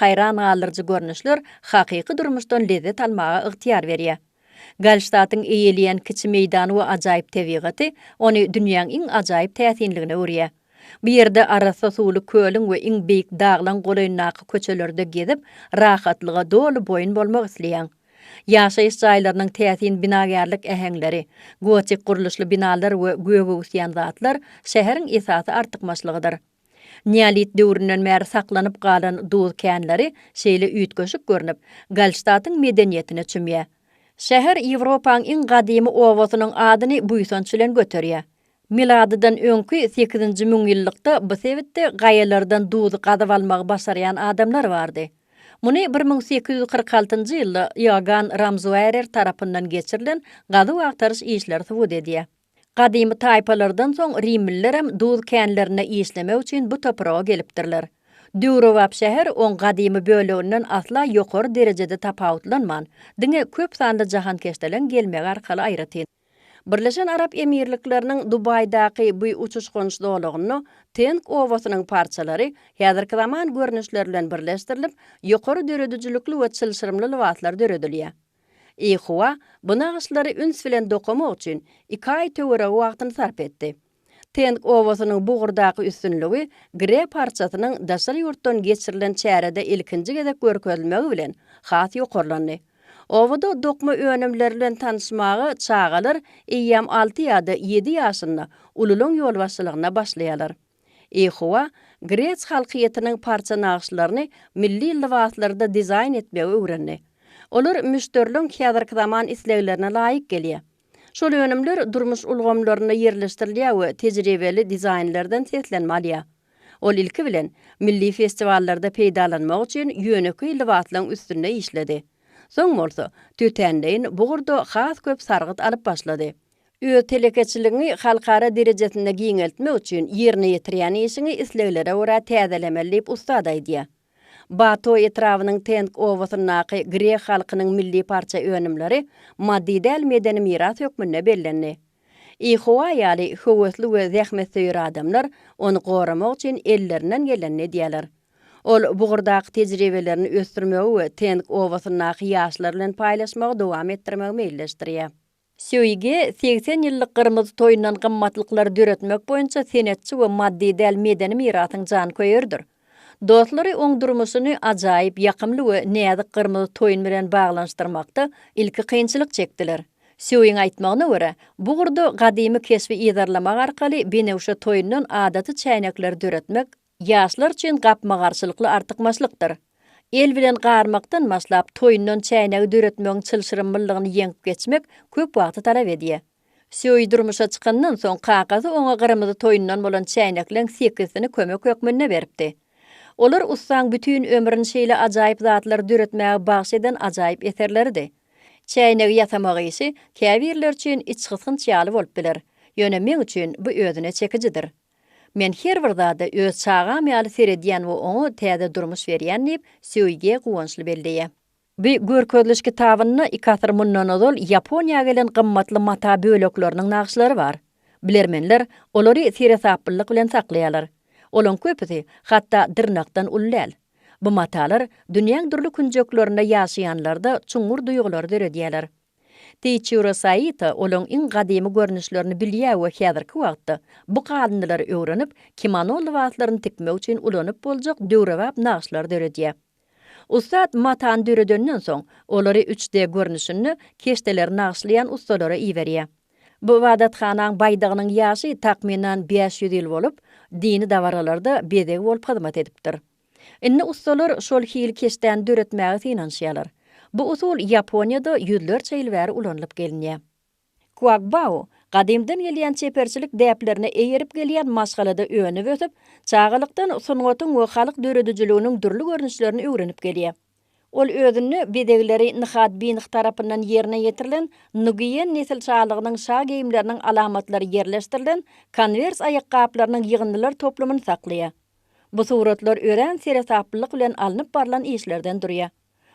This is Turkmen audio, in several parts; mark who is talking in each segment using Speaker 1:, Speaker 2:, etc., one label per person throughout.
Speaker 1: Haýran galdyryjy görnüşler hakyky durmuşdan lezzet almaga ygtyýar berýär. Gallştatiň eýeleýän kiçi meýdany we ajaýyp tebigaty ony dünýäň iň ajaýyp täsinligine öwürýär. Bu ýerde arassa suwly kölüň we iň beýik daglaň golaýyndaky köçelerde gezip, rahatlyga doly boýun bolmak isleýäň. Ýaşaýyş jaýlarynyň täsin binagärlik äheňleri, gotik gurluşly binalar we göge öwüsýän zatlar şäheriň esasy artykmaçlygydyr. Neolit döwründen bäri saklanyp galan duz känleri şeýle üýtgeşik görnüp, Galştatyň medeniýetine çümýär. Şäher Ýewropaň iň gadymy obasynyň adyny buýsanç bilen göterýär. Miladydan öňki sekizinji müňýyllykda bu sebitde gaýalardan duzy gazyp almagy başarýan adamlar bardy. Muny bir müň sekiz ýüz kyrk altynjy ýylda Iogann Ramzuärer tarapyndan geçirilen gazuw-agtaryş işleri subut edýär. Gadymy taýpalardan soň rimlilerem duz känlerinde işlemek üçin bu topraga gelipdirler. Döwrebap şäher oň gadymy böleginden asla ýokary derejede tapawutlanman, diňe köp sanly jahankeşdeleň gelmegi arkaly aýratyn. Birleşen Arap Emirlikleriniň Dubaýdaky bu uçuş-gonuş zolagynda Teng obasynyň parçalary häzirki zaman görnüşleri bilen birleşdirilip, ýokary döredijilikli we çylşyrymly lybaslar döredilýär. Ýehowa bu nagyşlary üns bilen dokamak üçin iki aý töweregi wagtyny sarp etdi. Teng obasynyň bu ugurdaky üstünligi Gre parçasynyň daşary ýurtdan geçirilen çärede ilkinji gezek görkezilmegi bilen has ýokarlandy. Obada dokma önümleri bilen tanyşmaga çagalar eýýäm alty ýa-da ýedi ýaşynda ululaň ýolbaşçylygynda başlaýarlar. Ýehowa grek halkyýetiniň parça nagyşlaryny milli lybaslarda dizaýn etmegi öwrendi. Olar müşderiligiň häzirki zaman isleglerine laýyk gelýär. Şol önümler durmuş ulgamlarynda ýerleşdirilýär we tejribeli dizaýnerden seslenme alýar. Ol ilki bilen, milli festiwallarda peýdalanmak üçin ýönekeý lybaslaryň üstünde işledi. Soň bolsa, tötänleýin bugurda has köp sargyt alyp başlady. Öz telekeçiligiňi halkara derejesinde giňeltmek üçin ýerine ýetirýän işiňi isleglere görä täzelemeli diýip, ussat aýdýar. Bato etrabynyň Teng obasyndaky grek halkynyň milli parça önümleri maddy däl medeni miras hökmünde bellendi. Ihowa ýaly höwesli we zähmetsöýer adamlar ony goramak üçin ellerinden gelenini edýärler. Ol bugurdaky tejribelerini ösdürmegi we Teng obasyndaky ýaşlar bilen paýlaşmagy dowam etdirmegi meýilleşdirýär. Söýgi, segsen ýyllyk Gyrmyzy toýundan gymmatlyklar döretmek boýunça senetçi we maddy däl medeni mirasyň janköýeridir. Dostlary oň durmuşyny ajaýyp, ýakymly we näzik Gyrmyzy toýun bilen baglanyşdyrmakda ilki kynçylyk çekdiler. Söýiň aýtmagyna görä, bu ugurda gadymy keşbi yzarlamak arkaly benewşe toýundan adaty çäýnekleri döretmek, Ýaşlar üçin gapma-garşylykly artykmaçlykdyr. El bilen garmakdan başlap, toýundan çäýnegi döretmegiň çylşyrymlylygyny ýeňip geçmek köp wagty talap edýär. Söýi durmuşa çykandan soň, kakasy oňa gyrmyzy toýundan bolan çäýnekleň sekizisini kömek hökmünde beripdi. Olar ussaň bütin ömrüni şeýle ajaýyp zatlary döretmäge bagyş eden ajaýyp eserleridi. Çäýnegi ýasamak işi käbirler üçin içgysgynç ýaly bolup biler, ýöne meň üçin bu özüne çekijidir. Men her bir zada öz çagam ýaly seredýän we oňa täze durmuş berýän diýip, Söýge guwançly belleýär. Bu görkeziliş kitabynda iki asyr mundan ozal Ýaponiýa gelen gymmatly mata bölekleriniň nagyşlary bar. Bilermenler olary seresaplylyk bilen saklaýarlar. Olaryň köpüsi hatda dyrnakdan uly däl. Bu matalar dünýäň dürli künjeklerinde ýaşaýanlarda çuňňur duýgulary döredýärler. Teçiro Saito olaryň iň gadymy görnüşlerini bilýär we häzirki wagtda bu galyndylary öwrenip, kimono lybaslaryny tikmek üçin ulanyp boljak döwrebap nagyşlar döredýär. Ussat matany döredenden soň, olary üç D görnüşinde keşdeleri nagyşlaýan ussalara iberýär. Bu ybadathanaň baýdagynyň ýaşy takmynan bäş ýüz ýyl bolup, dini dabaralarda bezeg bolup hyzmat edipdir. Indi ussalar şol hili keşdäni döretmäge synanyşýarlar. Bu usul Ýaponiýada ýüzlerçe ýyl bäri ulanylyp gelinýär. Kuagbao, gadymdan gelýän çeperçilik däplerine eýerip gelýän maşgalada önüp-ösüp, çagalykdan sungatyň we halk döredijiliginiň dürli görnüşlerini öwrenip gelýär. Ol özünde bezegleri Nihad Binih tarapyndan ýerine ýetirilen Nugiýen nesil şalygynyň şa geýimleriniň alamatlary ýerleşdirilen konwers aýakgaplarynyň ýygyndylar toplumyny saklaýar. Bu suratlar örän seresaplylyk bilen alnyp barlan işlerden durýar.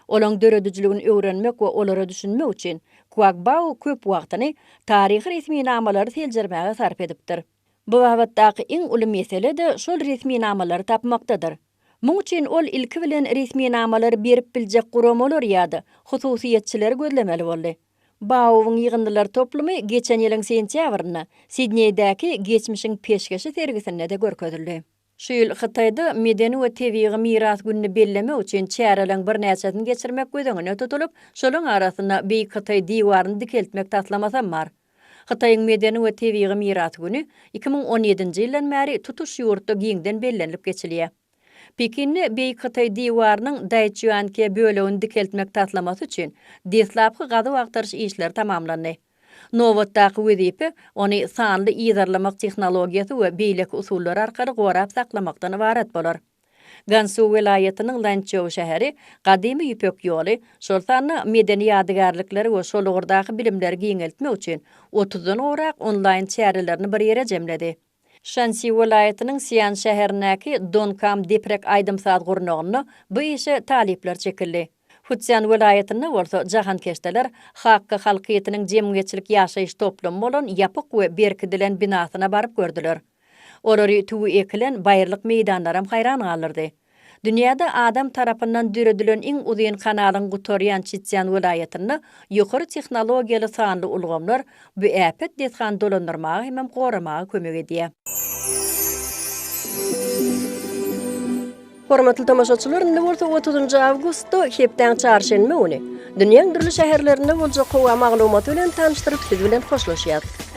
Speaker 1: Olaryň döredijiligini öwrenmek we olara düşünmek üçin Kuagbao köp wagtyny taryhy resminamalary seljermäge sarp edipdir. Bu babatdaky iň uly mesele-de şol resminamalary tapmakdadyr. Muň üçin ol ilki bilen resminamalary berip biljek guramalary ýa-da hususyýetçileri gözlemeli boldy. BAO-yň ýygyndylar toplumy geçen ýylyň sentýabrynda Sidneýdäki Geçmişiň peşgeşi sergisinde-de görkezildi. Şu ýyl Hytaýda Medeni we tebigy miras gününi bellemek üçin çäreleriň birnäçesini geçirmek göz öňünde tutulyp, şolaryň arasynda Beýik Hytaý diwaryny dikeltmek taslamasam bar. Hytaýyň Medeni we tebigy miras güni iki müň on ýedinji ýyldan bäri tutuş ýurtda giňden bellenilip geçilýär. Pekinde Beýik Hytaý diwarynyň Daýçýuanke bölegini dikeltmek taslamasy üçin deslapky gazuw-agtaryş işleri tamamlandy. Nobatdaky wezipe ony sanly yzarlamak tehnologiýasy we beýleki usullar arkaly gorap saklamakdan ybarat bolar. Gansu welaýatynyň Lançžou şäheri Gadymy Ýüpek ýoly, şol sanda medeni ýadygärlikleri we şol ugurdaky bilimleri giňeltmek üçin otuzdan gowrak onlaýn çärelerini bir ýere jemledi. Şansi welaýatynyň Sian şäherindäki Donkam Diprek aýdym-saz gurnagynda bu işe talyplar çekildi. Futsian welaýatynda bolsa jahankeşdeler Hakka halkyýetiniň jemgyýetçilik ýaşaýyş toplumy bolan ýapyk we berkidilen binasyna baryp gördüler. Olary tüwi ekilen baýyrlyk meýdanlaram haýran galdyrdy. Dünýäde adam tarapyndan döredilen iň uzyn kanalyň gutarýan Çitýan welaýatynda ýokary tehnologiýaly sanly ulgamlar bu äpet desgany dolandyrmaga hemem goramaga kömek edýär. Hormatly tomaşaçylar, indi bolsa otuzynjy awgustda, hepdäň çarşenbe güni, dünýäň dürli şäherlerinde boljak howa maglumaty bilen tanyşdyryp, siz bilen hoşlaşýarys.